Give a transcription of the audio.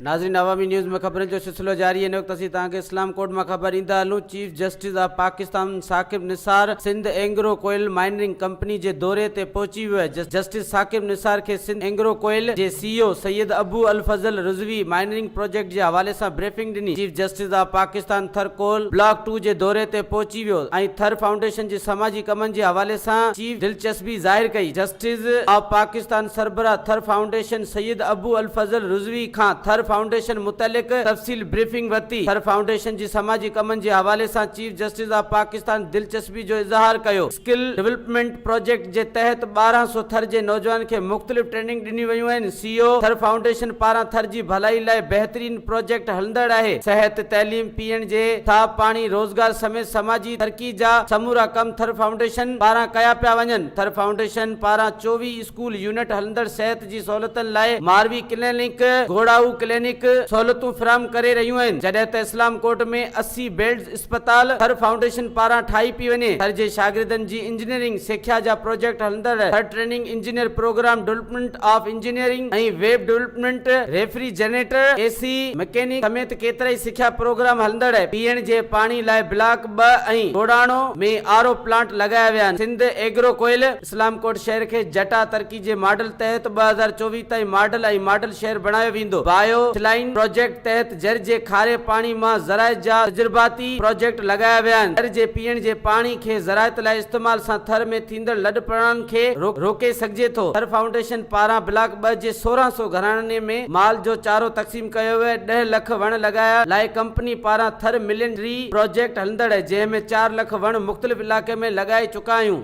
ناظرين عوامي نيوز ۾ خبرن جو سلسلو جاري هن وقت اسين توهان کي اسلام ڪوٽ مان خبر ڏيندا هلون chief justice of Pakistan Saqib Nisar Sindh Engro coal mining company جي دوري تي پهچي ويو آهي جسٽس ثاقب نثار کي سنڌ اينگرو ڪوئل جي سي اي او سيد ابو الفضل رضوي مائنرنگ پروجيڪٽ جي حوالي سان بريفنگ ڏني chief justice of Pakistan Thar coal block two جي دوري تي پهچي ٿي ويو ۽ ٿر فائونڊيشن جي سماجي ڪمن جي حوالي سان چيف دلچسپي ظاهر ڪئي جسٽس آف پاڪستان سربراهه ٿر فائونڊيشن سيد ابو الفضل رضوي کان ٿر فائونڊيشن متعلق تفصيل بريفنگ ورتي ٿر فائونڊيشن جي سماجي ڪمن جي حوالي سان چيف جسٽس آف پاڪستان دلچسپي جو اظهار ڪيو اسڪل ڊولپمينٽ پراجيڪٽ جي تحت ٻارهن سؤ ٿر جي نوجوانن کي مختلف ٽريننگ ڏنيون ويون آهن، سي او ٿر فائونڊيشن پاران ٿر جي ڀلائي لاء بهترين پراجيڪٽ هلندڙ آهي، صحت، تعليم، پيئڻ جي صاف پاڻي، روزگار سميت سماجي ترقي جا سمورا ڪم ٿر فائونڊيشن پاران ڪيا پيا وڃن، ٿر فائونڊيشن پاران چوويهه اسڪول يونٽ هلندڙ صحت. جي سهولتن لاء ماروي ڪلينڪ، گهوڙائو ڪلينڪ، سهولتون فراهم ڪري رهيون آهن، جڏهن ته اسلام ڪوٽ ۾ اسي بيڊز اسپتال ٿر فائونڊيشن پاران ٺاهي پئي وڃي، ٿر جي شاگردن جي انجنيئرنگ سکيا جا پروجيڪٽ هلندڙ Thar training engineer programme development of engineering ۽ web development, refrigerator, A C, mechanic سميت ڪيترائي سکيا پروگرام هلندڙ پيئڻ جي پاڻي لاء بلاڪ ٻه ۽ ڳوڙهاڻو ۾ آر او پلانٽ لڳايا ويا آهن، سنڌ ايگرو ڪوئل. اسلام ڪوٽ شهر کي جٽا ترقي جي ماڊل تحت ٻه هزار چوويهه تائين ماڊل ۽ ماڊل شهر بڻايو ويندو، بايو اٿلائين پراجيڪٽ تحت جر جي کاري پاڻي مان زراعت جا تجرباتي پراجيڪٽ لڳايا ويا آهن، جر جي پيئڻ جي پاڻي کي زراعت لاء استعمال سان ٿر ۾ ٿيندڙ لڏپلاڻن کي روڪي سگهجي ٿو، ٿر فائونڊيشن پاران بلاڪ ٻه جي سورهن سو گهراڻن ۾ مال جو چارو تقسيم. تقسيم ڪيو ويو ڏهه لک وڻ لڳايا لاء ڪمپني پاران ٿر ملين ٽري پراجيڪٽ هلندڙ جنهن ۾ چار لک وڻ مختلف علائقي ۾ لڳائي چڪا آهيون.